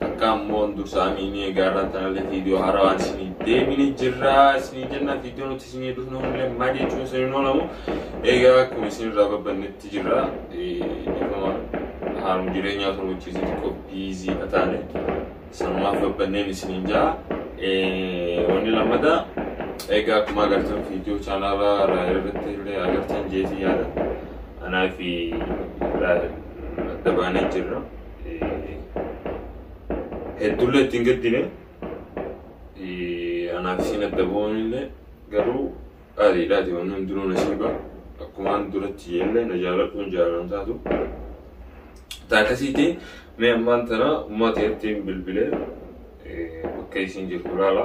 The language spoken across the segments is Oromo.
Takka ammoo dursa amiinii egaa irraan tanallee viidiyoo haarawaan isinii deebini jirra isinii jenna viidiyoo nuti isinii dhufnu illee maal jechuun isin hin oolamu egaa akkuma isin irraa babbannetti jirra dhifama haalum jireenyaa sun wajjin xiqqoo biizii ka taane sanumaaf babbanneen isiniin ja'a wanni lammataa egaa akkuma agartan viidiyoo chaanaalaa raayil irratti illee agartan jeetii yaada anaa fi raayil adda baanee jirra. hedduullee itti hin gaddine anaaf isiin adda bu'uunillee garuu qaaliidhaati wanni hundinuu nasiiba akkumaan duratti jeellee na jaaladhuun jaalalan taatu taakasiitii mee ammaan tana ummaa ta'etti bilbilee bakka isiin jirtu laala.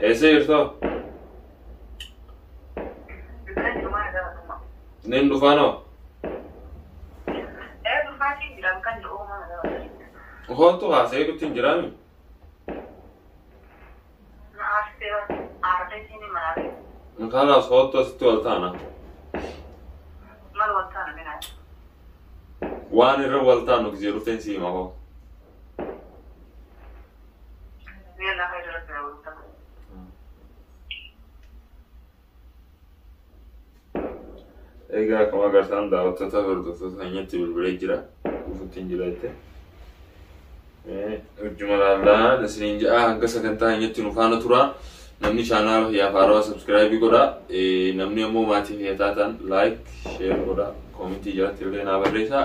Eessa jirtu? Nin dhufaanoo? Hooltu haasa'ee dhufti hin jiraami? Kanaaf hooltu asitti wal taana. Waan irra wal taanu gisee dhufteen si hima hoo. Egaa akkuma agartaan daawwattoota hordoftoota keenyatti bilbilee jira. Dhufuutti hin jira jettee. Hojjuma laallaa isiniin ja'a hanga sagantaa keenyatti nu faana tura. Namni chaanaala kiyyaaf haarawaa sabskiraayibii godha. Namni ammoo maatii kiyya taatan laayik, sheer godha. Koomentii jalatti illee naa barreessaa.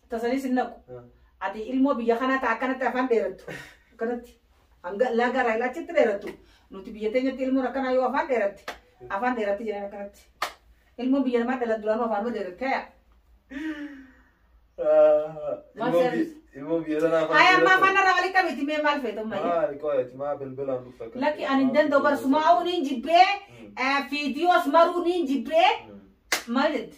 Tasanii sin naqu. Ah. Ati ilmoo biyya kanaa ta'a akkanatti afaan dheerattu. Akkanatti hanga laga irraa ilaachitti dheerattu. Nuti biyya teenyatti ilmoon akkanaa yoo afaan dheeratte afaan dheeratti jedhan akkanatti. Ilmoon biyya namaa dhalan duraanuu afaanuma dheeratte yaa. Ah, Maal ilmoo seerri? bi- ilmoo biyya sanaa afaan Haaya ammaa dheeratu. afaan irraa walitti qabeetti mee maal feetu ammayya? Maali qoyati maa bilbilaan dhufta kan. Lakki ani hin danda'u bara sumaa'uu niin jibbee Mm. fiidiyoos maruu niin jibbee Mm. maal jette?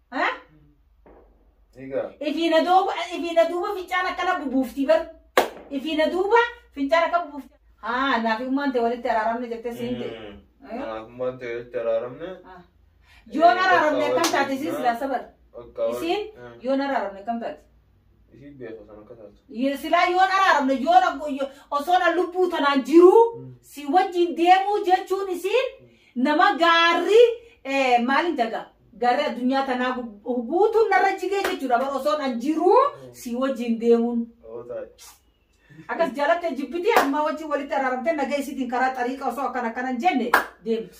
Ha? Egaa. Ifiina duuba ifiina duuba fincaan akkana bubuufti bar. Ifiina duuba fincaan akka bubuufti. Haa naafi ummaan ta'e walitti araaramne jettee siin ta'e. Naafummaan ta'e walitti araaramne. Yoon araaramne akkam taate isiin silaa sabar. Bakka wal- Isiin Mm. yoon araaramne akkam taate. Ishii beeku san akka taatu. Ye- silaa yoon araaramne yoon ak- yo- osoo na lubbuu tanaan jiruu Mm. si wajjin deemuu jechuun isiin nama gaarri eh, maalin jaga gaarri addunyaa tanaa gu- guutuun narra jigee jechuudha bar osoo an jiruu si wajjin deemuun Oo taa'e. akkas jaalattee jibbitii ammaa wajjin walitti araaramtee nagaa isiitiin karaa xariiqa osoo akkan akkanan jenne deemti.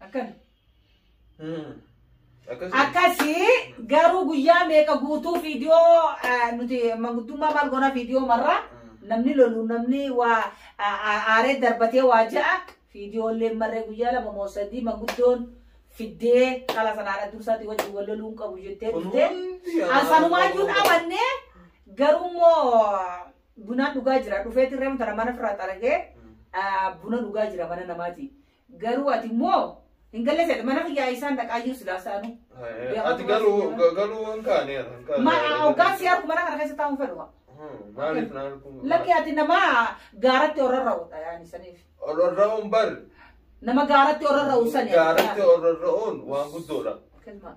Akkana. Akkasii. Akkasii garuu guyyaa meeqa guutuu viidiyoo ah, nuti manguddummaa maal goona viidiyoo marraa namni lolu namni waa a- a- aaree darbatee waa ja'a viidiyoollee marree guyyaa lama moo sadii manguddoon fiddee dhala sanaadha dursaati wajjin wal loluu hin qabu jettee Kun dhuftee hundi yaa- ansanumaayyuun amannee garuu immoo Bunaa dhugaa jira dhufeeti reemu tana mana firraa xaragee buna dhugaa jira mana namaati. Garuu ati immoo hin galle seete mana kiyyaa isaan dhaqaayyuu silaa saanu. Ati galuu galuu hin kaane hin kaane. Mana hoggaan si argu mana kana keessa taa'uun fedhuma. Maaliif na arguu? Lakki ati nama gaaratti orarra'udha yaani saniif. Ororra'uun bar Nama gaaratti orarra'u sani. gaaratti ororra'uun waan guddoodha. Kilma.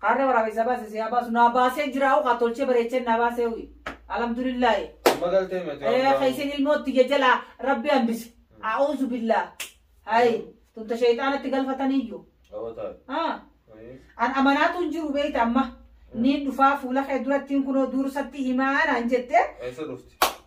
Kaarra waraabessa baase si haa baasu naa baasee jiraa'u kaa tolchee bareechee naa baasee uyi. Alhamdulillaahi. Amma galtee miti. Eh, ka isin ilmootti jajala rabbi hambise. A'uuzu billaa. Hayi. Tunta sheeyxaanatti galfataniiyyu. Dhawataa. Ah. Ayii. An amanaatu hin jiru beeyta amma. Niin dhufaa fuula kee durattiin kunoo dursatti himaa naan jette. Eessa dhufti?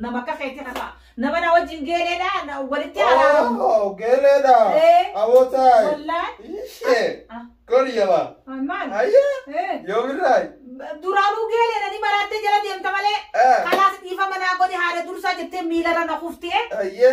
Nama akka keetii kana nama na wajjin geeleedha na walitti araaramu. Oh, geeleedha. Eh. Awootaay. Wallaahi. Ishee. Ah. Goli jabaa. Ah, Maal? Ayya. Eh. Yoomirraay. Duraanuu geeleedha ni maraattee jala deemta malee. Eh. Kalaas dhiifa manaa godhi haadha dursaa jettee miilarra na kuftee. Ayya.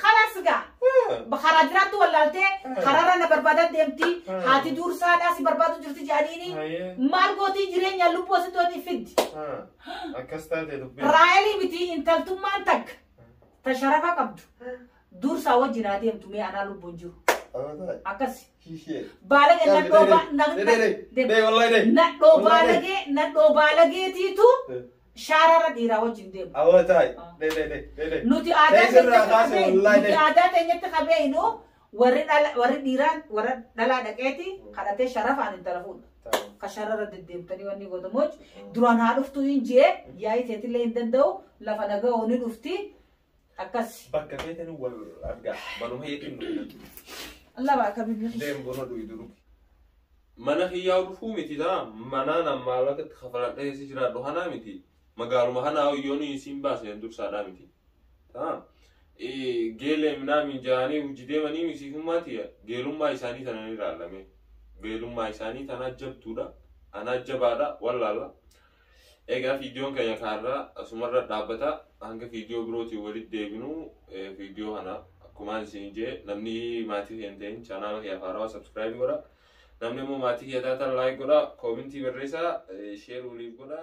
Khalas gaa. Karaa jiraattu wallaaltee karaarra na barbaadaa deemti. Haati duursaadhaa si barbaadu jirti jedhaniini. Maal gootii jireenya lubbuu asitti wanni fiddi. Akkas taate dubbii. Raayelii miti intaltummaan takka ta sharafa qabdu duursaa wajjin haa deemtu mee anaa lubbuun jiru. Akkasi. Baalagee nadhoo baalagee nadhoo baalageetiitu shaarara dhiiraa wajjin deemu. Awoo taa'e. Be be be be be. Nuti Ta'e aadaa sirraa keenyatti kaase qabee wallahi nuti be. aadaa keenyatti qabee inuu warri dhala warri dhiiraan warra dhalaa dhaqeeti kadhatee sharafaan intala fuudha. Taa'e. Ka sharara deddeemtanii wanni godhamuuc duraan haa dhuftu hin jee yaa'ii teetillee hin danda'u lafa naga'oo ni dhufti Akkas. Bakka feetanii wal argaa. Manuma heetiin nu godhatu. Allah baa kabibni. Deem buna dhuyi duru. Mana kiyyaa dhufuu miti taa manaa nan maallaqa itti kafaladha keessa jiraadhu hanaa miti. Magaaluma hanaa hoyyoon isiin baaseen dursaadhaa miti. Taa geelee minaa mijaanii hojii deemanii misiifummaa tiya geelummaa isaanii tana ni ilaalame. Geelummaa isaanii tanaa jabduudha. Anaa jabaadha wallaalla. Egaa viidiyoon keenya kaarraa asumarra dhaabbata hanga viidiyoo birootiin walitti deebinu viidiyoo kana akkumaan isin jee namni maatii keenya ta'in chaanaala kiyyaaf haarawaa sabskiraayib godha. Namni immoo maatii kiyya taatan laayik godha, koomintii barreessaa, sheer waliif godha.